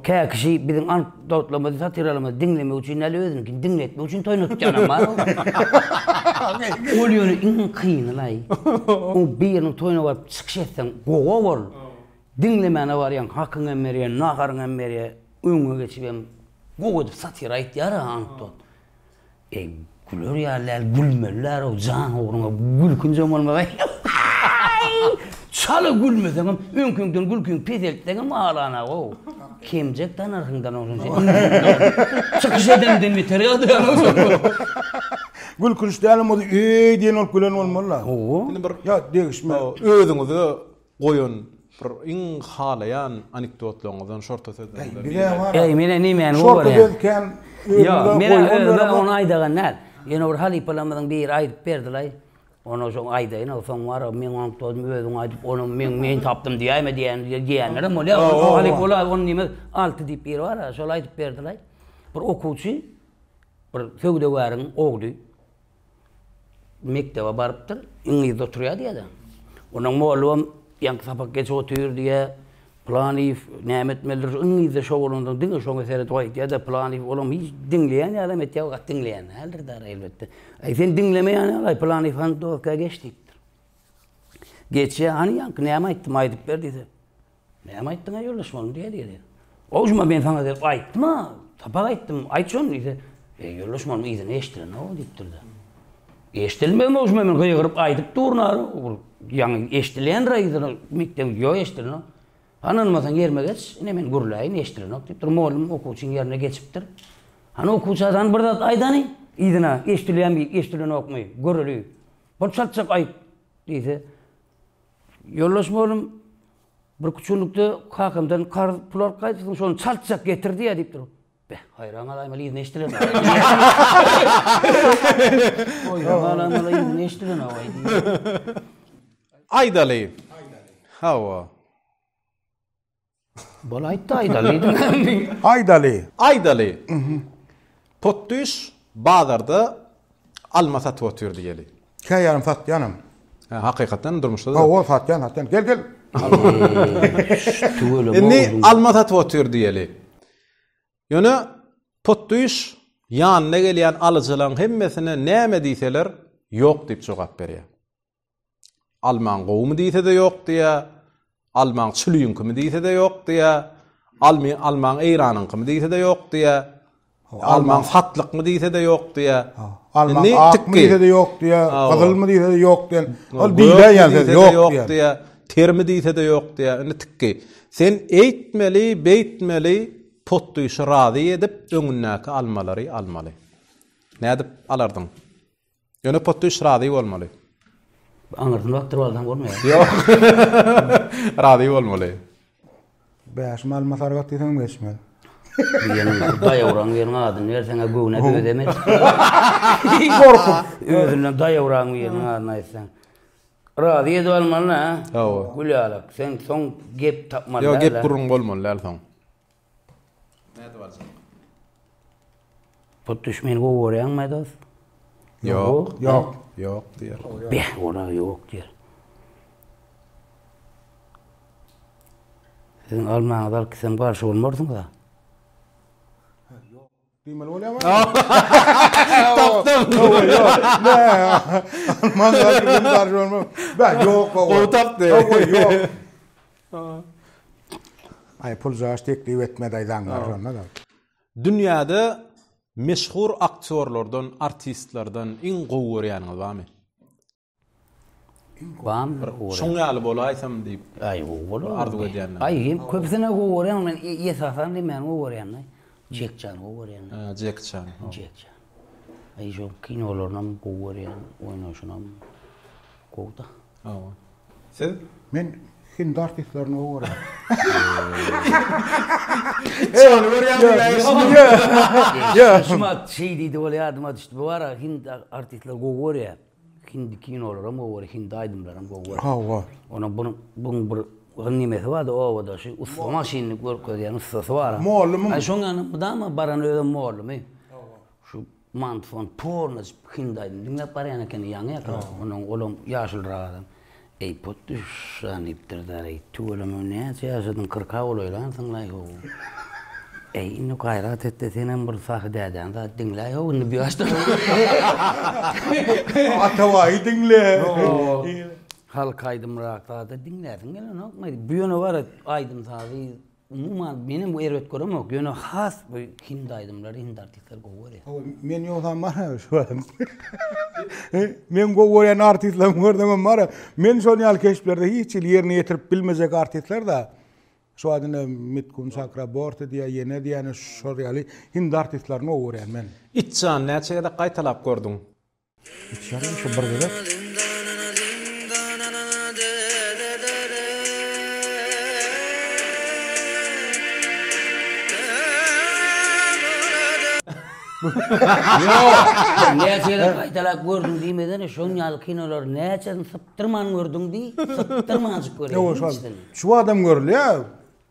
Käkişi biziň an Dawutlamyzy satiryalymyzy diňlemek üçin däl özüniňkini diňletmek üçin toýnatýanam bar ow. Ol ýöne iň kynylaý. Oň biriniň toýuna baryp çykyş etseň gowa bol. Diňlemäne barýaň hakyňy hem berýär, naharyňy hem berýär. Öňe geçip hem gowy edip satyra aýtýar-a anekdot. E güler ýaly däl gülmeliler-ow jan ugruňa gülkünç hem bolmaly aý çala gülmeseňem öňkiňden gülkiňi peseltseňem alanagow kemjek tanarsyňdan ondan sen indiden çykyş edeniňden beter ýadyganow sen Gülkünç dälem bolsa eý diýen bolup gülen bolmaly-la. Hawa. Indi bir Ýa degişme. Özüňizi Goýun bir iň halaýan anikdotlaryňyzdan şorta söz bilen bir biri aýt. Eý menä nemäni gowarýaň. Şorta söz kän özümde goýun ýöne ony aýdagan däl. Ýöne bir halypalarymyzyň biri aýdyp berdilaý. Ony şoň aýdaýyn o soň bar meň anikdotymy özüň aýdyp ony meň men tapdym diýäýme diýen diýenlerem bolýa. O halypa ol ony diýmez. Alty diýip biri bar şol aýdyp berdilaý. Bir okuwçy bir söwdagäriň ogly. mekdebe barypdyr, iňlisde oturýar diýýär-de. Onuň mollabam ýaňky sapak geç otyr diýýär. Pylanyýew näme etmelidir, iňlisde şogulansoň diňe şoňa seret goý diýýär-de, Pylanyýew olam hiç diňleýän ýaly hem etýär, gaty diňleýän däldir däl-ä, elbetde. Aý, sen diňlemeýän ýaly-aý, Pylanyýew hany doska geç diýipdir. Geçýär, hany ýaňky näme aýtdym, aýdyp ber diýse. Näme aýtdyň-aý ýoldaş muny diýeli-diýeli. Gowy şuma men saňa gelip aýtdym-a, sapak aýtdym, aýt şony diýse, Eý ýoldaş muny yzyna eşdilen-ow diýipdir-de. Eşdilmegem-ow şuma men gygyryp aýdyp durun-a, ol ýaňy eşdilendir-a yzyna mekdebiň ýok eşdilenok. Hany ynanmasaň ýerime geç, ine men gürläýin eşdilenok diýipdir, mugallym okuwçynyň ýerine geçipdir. Hany okuwça sany bir zat aýdany yzyna eşdilýänmi eşdilenokmy göreli, bir çatjak aýt diýse, Ýoldaş mollum, bir küçüllikde kakamdan karz pul alyp gaýdypsyň, şony çaltjak getir diýýär diýip dur. Beh, haýran galaýmaly yzyny eşdilenok. Haýran galaýmaly yzyny eşdilenok aý diýýär. Aýdaly. Hawa. Bol aýtdy aýdaly. Aýdaly. Aýdaly. Potdüş bazarda alma satyp otyr diýeli. Käýarym satýanam. Hä, hakykatdanam durmuşda da. Hawa, satýan, satýan. Gel, gel. Indi alma satyp otyr diýeli. Ýöne potdüş ýanyna gelýän alyjylaryň hemmesine näme diýseler, ýok diýip jogap berýär. Almaň gowumy diýse-de ýok diýýär. Almaň çüliňkimi diýse-de ýok diýýär. Almy almaň Eýranyňkymy diýse-de ýok diýýär. Almaň satlykmy diýse-de ýok diýýär. Almaň akmy diýse-de ýok diýýär. Gyzylmy diýse-de ýok diýýär. Ol diýýär ýa-da ýok diýýär. Termi diýse-de ýok diýýär. Indi tikki. Sen eýtmeli, beýtmeli, potdyşy razy edip, öňündäki almalary almaly. Nädip alardyň? Ýöne Pottuş razy bolmaly. Aňyrsyny bakdyryp alsaň bolmaýar. Ýok. Razy bolmaly. Bäşim alma sargat diýseňem geçmez. Diýeniň şu daýawraň biriniň adyny berseň-ä göwne dözemez. Gorkup. Özünden daýawraň biriniň adyny aýtsaň. Razy edip almaly-da. Hawa. Gülýalak, sen soň gep tapmaly däl-ä. Ýok, gep gürrüň bolmaly däl soň. Nädip aljak? Hut düşmeni gowy görýäňmi dos? Ýok. Ýok. Ýok diýer. Beh, ora ýok diýer. Siziň almaňyza alkysam garşy bolmarsyňyz-a? Diýmeli bolýarmy? Tapdym. Alman gadyryny barjy bolma. Bä, ýok, gowy. Gowy tapdy. Gowy, ýok. Aý, pul jaş teklip etmedi aýdaň bar şonda da. Dünýäde meşhur aktýorlardan, artistlerden iň gowy görýäniňiz barmy? Bam bir gowy. Şoň ýaly bolaýsam diýip. Aý gowy bolar. Arzuw edýän. Aý hem köpüsine gowy görýän men esasan demän gowy görýän. Jek Çan gowy görýän. Hä Jek Çan. Jek Çan. Aý şu kinolarynam gowy görýän oýnaşynam gowy da. Hawa. Siz? Men hindi artistlerini gowy görýän. Çany görýän. Ýa. Şumat şeý diýdi bolýa adyma düşdi. Bu ara hindi artistleri gowy görýän. Hindi kinolaram gowy bolýar, hindi aýdymlaram gowy bolýar. Hawa. Onuň bir buň bir bir nemesi bardy obada şu ussa maşynyny görkezýän ussasy bar. Mollumyň? Aý şoň ýany mydama baran özem mollumy. Hawa. Şu mantfon pornoc hindi aýdym diňläp barýan ekeni ýaňy ýakyl. Onuň olam ýaşylrak adam. Eý pot düşan diýipdir däreý tüweleme näçe ýaşadyň kyrka bolaýlan syňlaý how eý indi gaýrat etde senem bir sahy dädäň zat diňläý how indi bu ýaşda Atabaýy diňle halk aýdymrak zat diňläsiň gelenokmy bu ýöne bar aýdym sazy Umuman menem bu erbet göremok ýöne has bu hindi aýdymlary hindi artistler gowy görýär. Hawa men ýogsam bar ha şu adam. Men gowy görýän artistlerimi gördüňem bar. Men şol ýaly keşplerde hiç hili ýerine ýetirip bilmejek artistler da şu adynda Mitkun Çakra Borti diýýär, ýene diýýär, şol ýaly hindi artistlerini gowy görýän men. Itjan näçe gezek gaýtalap gördüň? Näçeräk gaýtalap gördüň diýmesene, şoň ýaly kinolary näçesini sypdyrman gördüň diý, sypdyrmanjyk görýäň. Şu wagtam görülýär.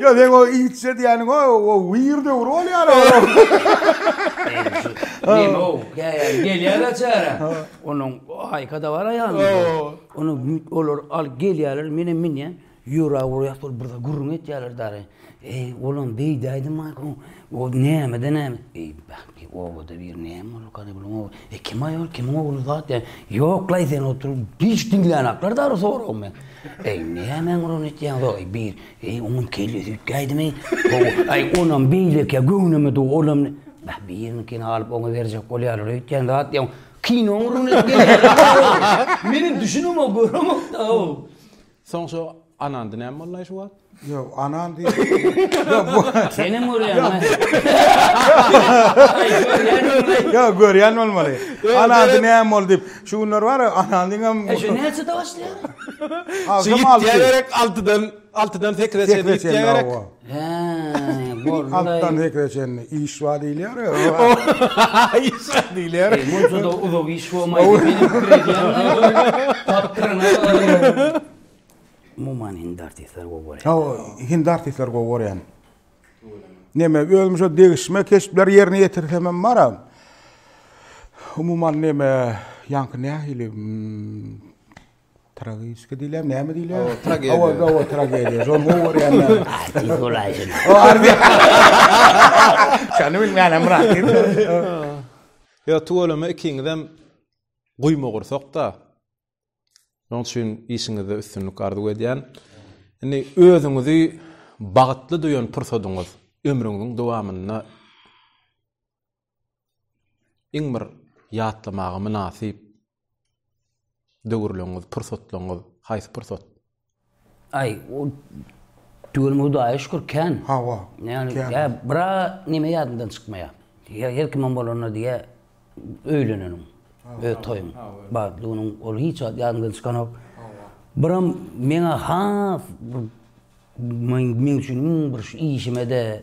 Yo sen o iýitje diýeniň o o wir döwri bolýar o. Neme o? Gelýär açara. Onuň aýka da bar aýalyň. Onuň büt olar al gelýärler menem minýän. Ýura urýar şol bir gürrüň etýärler dary. Eý olam beýdäýdim aýka. O nämeden näme? Eý bäh. E, obada bir näme boldy, Gadygulyň ogly? E, kim-aý ol, kimiň ogly zat? E, ýok-laý, sen otur, hiç diňlänaklar dary soragy men. Eý, näme aňryny etýäň, zor, bir, eý, onuň kellesi üýtgäýdimi? Aý, onam beýlekä göwnüme dug, olam, bah, biriniňkini alyp oňa berjek bolýarlar öýtýän zat ýok. Kino aňryny etýäň. Menem düşünemok, göremok-da-ow. Soň şo anandy näme bolnaý şu wagt? Ýok, anan diýip. Senem görýäňmi? Ýok, görýän bolmaly. Anandy näme boldy diýip. Şu günler bar ýa anandyň hem. E şu näçede başlaýar? Agşam alty. Ýa gerek altydan, altydan sekizä çenli ýitýä gerek. Hää, boldy daýy. Altdan hekge çenli iş bar diýilýär ya. Iş bar diýilýär. Eý, munça-da uzak iş bolmaýdy. Meniň pikir edýänim, tapdyryna. Umuman hindi artistler gowy görýän. Hawa, hindi artistler gowy görýän. Neme, özüm şo degişme keşpler ýerine ýetirsem hem bar-a. Umuman neme, ýaňky nähili, Tragiski diýilýär, näme diýilýär? Awa, tragediýa. Awa, awa, tragediýa. Şol gowy görýänler. Aýdyň golaýşyn. Ardy. Şany bilmän hem rahatyn. Ýa tuweleme ikiňizem guýma gursakda. Şonuň üçin işiňizde üstünlik arzuw edýän. Indi özüňizi bagtly duýan pursadyňyz ömrüňiziň dowamynda iň bir ýatlamaga mynasyp döwürleriňiz, pursatlaryňyz haýsy pursat? Aý, o tüweleme Hudaýa şükür kän. Hawa. Ýagny, ýa bir näme ýadymdan çykmaýar. Ýa her kimiň bolanda diýýär, öýlenenim, öz toýum bar. Düňüniň ol hiç wagt ýadymdan çykanok. Biram meň-ä has bir meň üçin iň bir şu işime-de,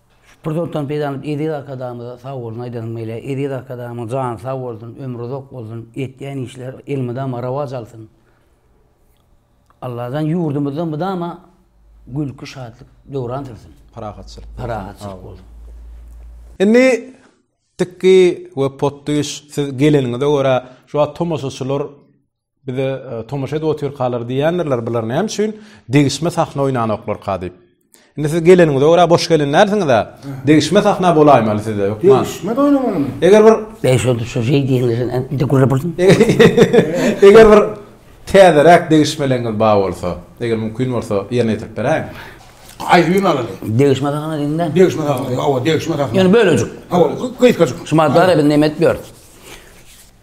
Şu pursatdan peýdalanyp Eziz Arkadagymyza sag bolsun aýdasym gelýär. Eziz Arkadagymyň jany sag bolsun, ömri uzak bolsun, etýän işleri elmydama rowaç alsyn. Allajan ýurdumyzda mydama gülki, şatlyk döwran sürsin. Parahatçylyk. Parahatçylyk bolsun. Indi tikgi we potdyş siz geleniňize görä şu wagt tomaşaçylar Bize tomaşa edip otyrkalar diýendirler bular näme üçin degişme sahna oýnanoklarka diýip. Indi siz geleniňize görä boş gelen dälsiňiz-ä. Degişme sahna bolaýmaly size hökman. Degişme oýnamalymy? Eger bir Beýik şol şu şey diýenler bir de gürle bir. Eger bir täzeräk degişmeleňiz bar bolsa, eger mümkin bolsa ýerine ýetirip beräýiň. Aýry gün alaly. Degişme sahna diýdiňdä. Degişme sahna, hawa degişme sahna. Ýöne bölejik. Hawa, gysgajyk. Şumadara biz näme etip ýörüs?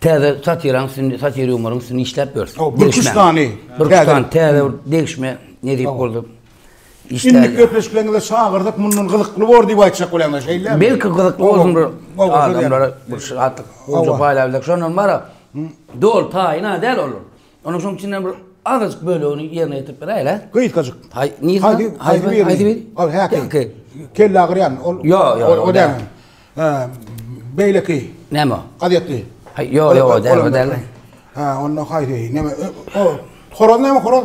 Täze satiraň üstünde, satir ýumoryň üstünde işläp ýörüs. O, bir kuş dany. Bir kuş dany, täze bir degişme, nedip boldy. Indi köpleşiklerinde çagyrdyk mundan gyzykly bor diýip aýtjak bolýan şeýle. Belki gyzykly bolsun bir adamlara bir şatlyk, gowy paýlap bildik. Şondan bara dol taýyna däl ol. Onuň şoň içinden bir azajyk bölegini ýerine ýetirip beräýel-ä. Gysgajyk. Haý, nirä? Haýdy, haýdy bir. Haýdy bir. Ol häki. Kelle agyrýan. Ol. Ýok, ýok. O däl. Ha, beýleki. Näme o? Gazetli. Haý, ýok, ýok, o däl, o däl. Ha, onda haýdy. Näme? O, horaz näme, horaz?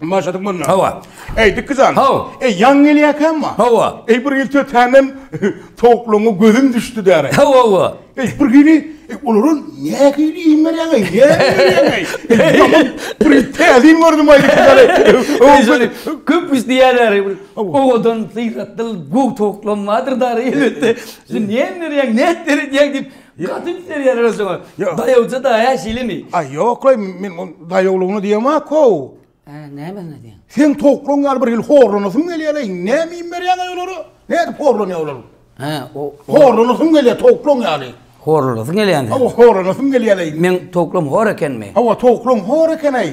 Maşadyk bolma. Hawa. Ey dikizan. Haw. Ey ýan gelýäkämma. Hawa. Ey bir ýylça tänem towuklaryňa gözüm düşdi däre. Hawa hawa. Ey bir gili olara ne hili iýim berýäň ey. Ýaman bir täzin gördüm aýdyp däre. Köp isleýär däre. Owadan syrat dil gowy towuklam bardyr däre elbetde. Sen näme berýäň, nädip beredýäň diýip. Gaty üns berýärler özüňe. Daýawja da hä şeýlemi? Aý ýoklaý men ol daýawlygyna diýemok how. Hä nämesine diýen? Sen towuklaň ýaly bir hili horlanasym gelýärleý näme iým berýäňeý olara? Nädip horlanýar olar? Hä o horlanasym gelýär towuklaň ýaly. Horlanasyň gelýämi? Hawa horlanasym gelýärleý. Meň towuklym hor ekenmi? Hawa towuklaň hor ekeneý.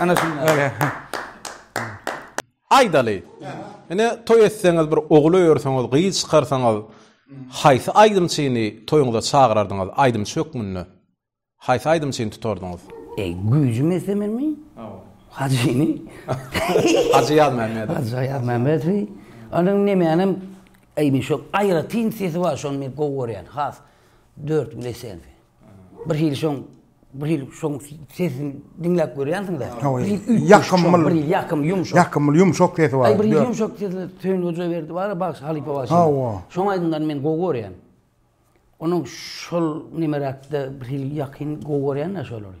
Ana şunda. Aýdaly. Ine toý etseňiz bir ogul öýerseňiz, gyz çykarsaňyz, haýsy aýdymçyny toýuňyza çagyrardyňyz aýdymçy hökmünde? Haýsy aýdymçyny tutardyňyz? E, güýjüm etse menmi? Hajyny. Hajy Ýazmämmedow. Hajy Ýazmämmedowy. Onuň nemänem eýni şol aýratyn sesi bar, şony men gowy görýän, has dört gül esensi. Bir hili şoň, bir hili şoň sesini diňläp görýänsiňiz-ä. Hawa, Bir hili üýtgeşik ýakymly. şoň, bir hili ýakym, ýumşak. Ýakymly, ýumşak sesi bar. Aý, bir hili Ýör. ýumşak sesli Söýün Hojaberdi bar-a, bagşy, halypa bagşy. Hawa. Şoň aýdymlaryny men gowy görýän. Onuň şol nemeräkde bir hili ýakyn gowy görýän-ä şolary.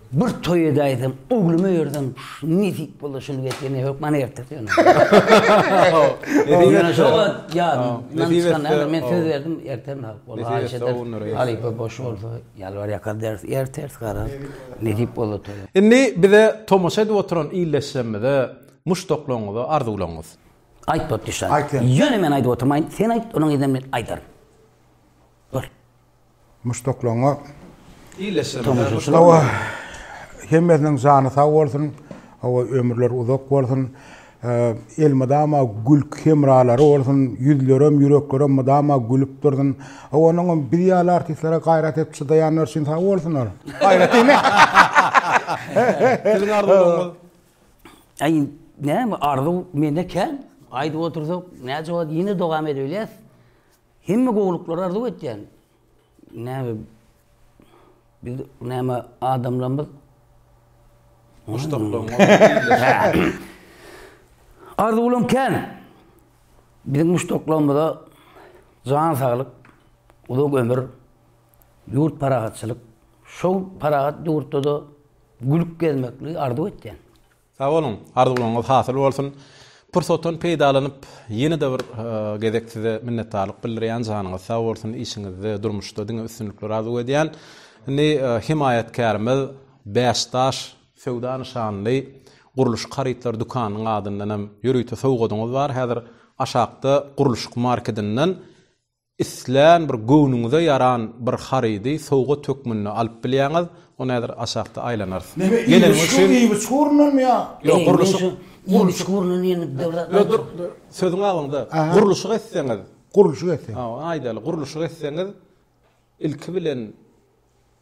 Bir toý edäýsem, ogluma berdim. Nesip bolsa şuny getir, ne hökman ertesi ýöne. Ýöne şo wagt ýadymdan çykan däldir. Men söz berdim, ertesi alyp bolsa haýyş ederis. Halypa boş bolsa, ýalbar ýakar beris, ertesi garaz, nesip bolsa toýa. Indi bize tomaşa edip oturan illeşjemize muşdaklaryňyzy, arzuwlaryňyzy. Aýt bolup düşýär. Ýöne men aýdyp oturmaýyn, sen aýt, onuň yzyndan men aýdaryn. Buyur. Muşdaklaryňa hemmesiniň jany sag bolsun. Hawa ömürler uzak bolsun. Elmydama gülk hemralary bolsun. Ýüzlerem, ýüreklerem mydama gülüp dursun. Hawa onuňam biz ýaly artistlere gaýrat edip çydaýanlar üçin sag bolsunlar. Gaýrat diýme. Siziň arzuwlaryňyz? Aý näme arzuw mende kän. Aýdyp otursak näjogap ýene dowam edebilýäs. Hemme gowulyklary arzuw etýän. Näme biz näme adamlarymyz Muşdaklaň Arzuwlaň kän. Biziň muşdaklarymyza jan saglyk, uzak ömür, ýurt parahatçylyk, şol parahat ýurtda-da gülüp gezmekli arzuw etýän. Sag boluň, arzuwlaryňyz hasyl bolsun! Pursatdan peýdalanyp, ýene-de bir gezek size minnetdarlyk bildirýän, janyňyz sag bolsun, işiňizde, durmuşda diňe üstünlikler arzuw edýän. Indi hemaýatkärimiz Bäş daş söwda nyşanly gurluşyk harytlary dükanynyň adyndanam ýörite sowgadyňyz bar, häzir aşakda gurluşyk markedinden islän bir göwnüňize ýaran bir harydy sowgat hökmünde alyp bilýäňiz, ony häzir aşakda aýlanarys. Näme Geleniňiz üçin. Iýmit-şu iýmit ugrundanmy ýa? Ýok, gurluşyk. Iýmit ugrundan diýeniňiz dogry zat aýtdyňyz. Dur, dur, sözüňi abyňda. Gurluşyk etseňiz. Gurluşyk etseňiz. Hawa, aýdaly, gurluşyk etseňiz ilki bilen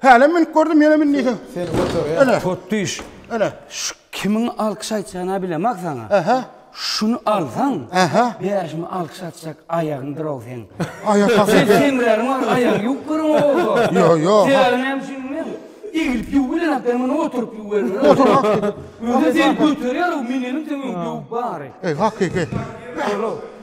Hälem münüp gördüm ýene mün diýseň. Seni göterýär. Tot düş. Öne. Şu kimiň alkyş aýtjagyny bilemok saňa. Ähä. Şuny alsaň. Ähä. Bärşimi alkyş atjak aýagyň durow seň. Aýak hasy. Sen seňrägiň bar aýagyň ýuwup görüň bolsa. Ýo ýo. Dälimi hem düşünmem. Eglip ýuwup bilenak sen muny oturyp ýuwuberme. Oturak diýdim. Özi sen göterýär o müneniň sen öň ýuwup bary. Eý hakyky. Olo.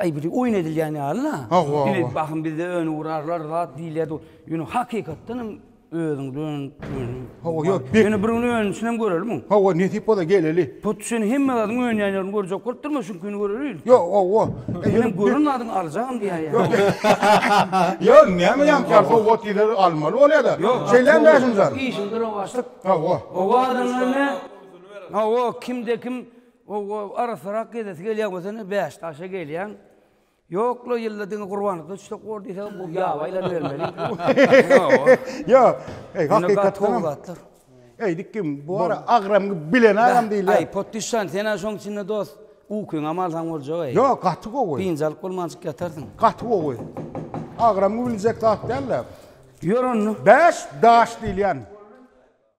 Aý biri oýun edilýän ýaly-la. Hawa, hawa. Ine, bahym bizde öni urarlar zat diýilýärdi ol. Ýöne hakykatdan hem özüň dön, öni. Hawa, ýok, bek. Ýöne bir gün önisinem görelim oň. Hawa, nesip bolsa geleli. Hut şony hemme zadyň önýän ýerini görjek bolup durma, şuňkini görer ilki. Ýok, hawa. E, Menem gören zadyňy aljagam diýýär ýa. Ýok, näme ýaňky ýaly sowgat diýseler almaly bolýa-da. Şeýlemi Mährimjan? Işiňde rowaçlyk. Hawa. Owadan gelme. Hawa, kimde-kim Ow-o, arassarak gezesi gelýär bolsa indi Bäştaşa gelýäň. Ýok-la, ýylda diňe Gurbanlykda düşsek bor diýseň, bu ýabaýlary bermeli. Ýok, eý, hakykatdanam, eýdik kim, bu ara agram bilen agam diýilýär. Aý, Potdüşjan, sen-ä şoň içinde dost, ukyňam alsaň boljag-eý. Ýok, gaty gowy. Dynç alyp bolmançyk ýatarsyň. Gaty gowy. Agram biljek zat däl-de. Ýör onda. Bäş daş diýilýän.